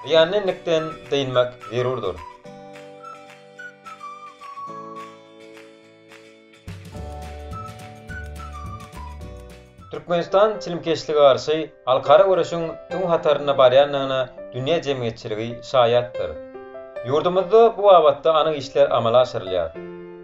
Zyýanly endikden dynmak zerurdyr. Türkmenistan çilimkeşlige garşy halkara göreşiň öň hatarynda barýandygyna dünýä jemgyýetçiligi şaýatdyr. Ýurdumyzda bu babatda anyk işler amala aşyrylýar.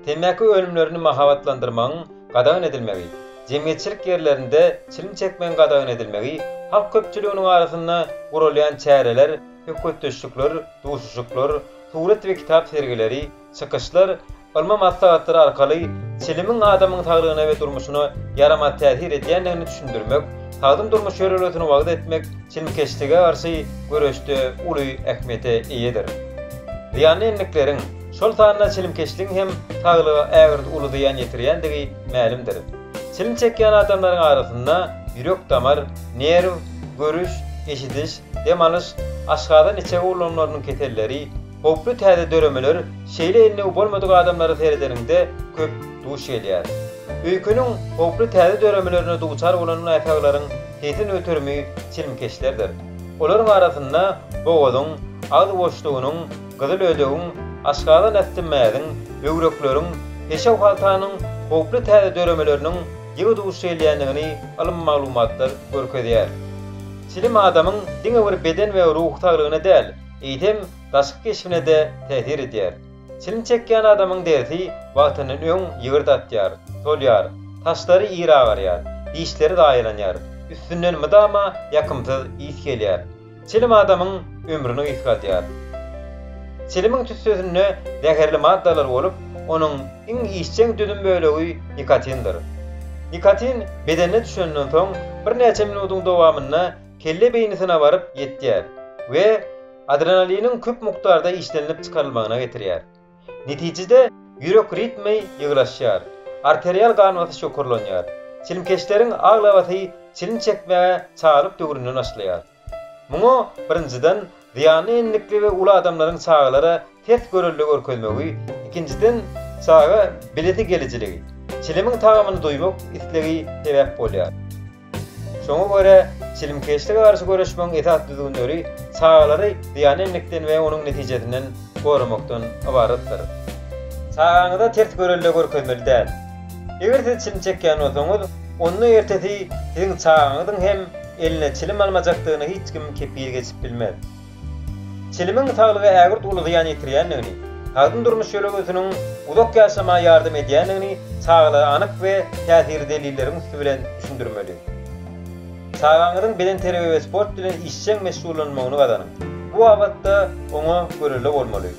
Temmäki önümlerini mahabatlandyrmagyň gadagan edilmegi jemgyýetçilik ýerlerinde çilim çekmegiň gadagan edilmegi, halk köpçüliginiň arasynda guralýan çäreler, söhbetdeşlikler, duşuşyklar, surat we kitap sergileri, çykyşlar, ylmy maslahatlar arkaly çilimiň adamyň saglygyna we durmuşyna ýaramaz täsir edýändigini düşündirmek, sagdyn durmuş ýörelgesini wagyz etmek çilimkeşlige garşy göreşde uly ähmiýete eýedir. Zyýanly endiklerin. Şol sanda çilimkeşligiň hem saglyga ägirt uly zyýan ýetirýändigi mälimdir. Çilim çekýän adamlaryň arasynda ýürek-damar, nerw, görüş, eşidiş, dem alyş, aşgazan-içege ulgamlarynyň keselleri, howply täze döremeler şeýle endiwi bolmadyk adamlara seredeniňde köp duş gelýär. Öýkeniň howply täze döremelerine duçar bolan näsaglaryň tesin göterimi çilimkeşlerdir. Olaryň arasynda bogazyň, agzy boşlugynyň, gyzyl ödegiň, aşgazan asty mäziň, böwrekleriň, peşew-haltanyň howply täze döremeleriniň ýygy duş gelýändigini ylmy maglumatlar görkezýär. Çilim adamyň diňe bir beden we ruhy saglygyna däl, eýsem, daşky keşbine-de täsir edýär. Çilim çekýän adamyň derisi wagtyndan öň ýygyrdatýar, solýar, saçlary ir agarýar, dişleri zaýalanýar, üstünden mydama ýakymsyz ys gelýär. Çilim adamyň ömrüni gysgaldýar. Çilimiň tüssesinde zäherli maddalar bolup, onuň iň işjeň düzüm bölegi nikotindir. Nikotin bedene düşenden soň birnäçe minutyň dowamynda kelle beýnisine baryp ýetýär we adrenaliniň köp mukdarda işlenilip çykarylmagyna getirýär. Netijede, ýürek ritmi ýygylaşýar, arterial gan basyş ýokarlanýar. Çilimkeşleriň aglabasy çilim çekmäge çagalyk döwründe başlaýar. Muňa, birinjiden, zyýanly enlikli we uly adamlaryň çagalara ters görelde görkezmegi, ikinjiden, çaga bilesigelijiligi, çilimiň tagamyny duýmak islegi sebäp bolýar. Şoňa görä, çilimkeşlige garşy göreşmegiň esas düzgünleri çagalary zyýana enmekden we onuň netijesinden goramakdan ybaratdyr. Çagaňyza ters görelde görkezmeli däl. Eger siz çilim çekýän bolsaňyz, onda ertesi siziň çagaňyzyň hem eline çilim almajakdygyna hiç kim kepil geçip bilmez. Çilimiň saglygy ägirt uly zyýan ýetirýändigini, sagdyn durmuş ýörelgesiniň uzak ýaşamaga ýardam edýändigini çagalara anyk we täsirli delilleriň üsti bilen düşündirmeli. Çagaňyzyň bedenterbiýe we sport bilen işjeň meşgullanmagyny gazanyň. Bu babatda oňa görelde bolmaly.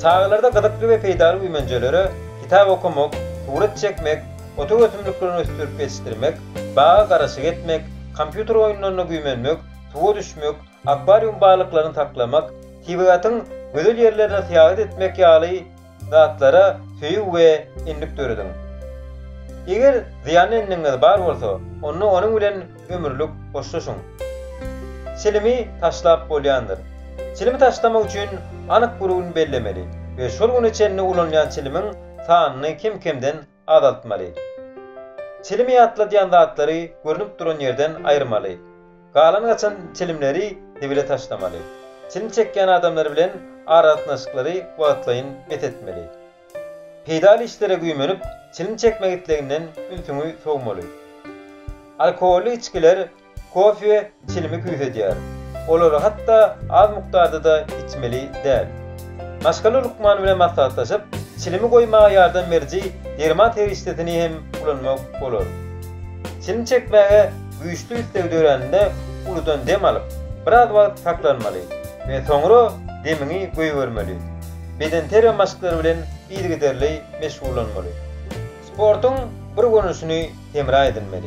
Çagalarda gyzykly we peýdaly güýmenjelere, kitap okamak, surat çekmek, otuk ösümliklerini ösdürip ýetişdirmek, baga garaşyk etmek, kompýuter oýunlaryna güýmenmek, suwa düşmek, akwarium balyklaryny saklamak, tebigatyň gözel ýerlerine syýahat etmek ýaly zatlara söýgi we endik dörediň. Eger zyýanly endigiňiz bar bolsa, onda onuň bilen ömürlik hoşlaşyň. Çilimi taşlap bolýandyr. Çilimi taşlamak üçin anyk bir gün bellemeli we şol güne çenli ulanylýan çilimiň sanyny kem-kemden azaltmaly. Çilimi ýatladýan zatlary görnüp duran ýerden aýyrmaly. Galan-gaçan çilimleri zibile taşlamaly. Çilim çekýän adamlar bilen aragatnaşyklary wagtlaýyn bes etmeli. Peýdaly işlere güýmenip, çilim çekmek isleginden ünsüňi sowmaly. Alkogolly içgiler Kofe çilimi küýsedýär. Olary hatda az mukdarda-da içmeli däl. Maşgala lukmany bilen maslahatlaşyp, çilimi goýmaga ýardam beriji derman serişdesini hem ulanmak bolar. Çilim çekmäge güýçli isleg döräninde uludan dem alyp, biraz wagt saklanmaly we soňra demiňi goýbermeli. Bedenterbiýe maşklary bilen yzygiderli meşgullanmaly. Sportuň bir görnüşini hemra edinmeli.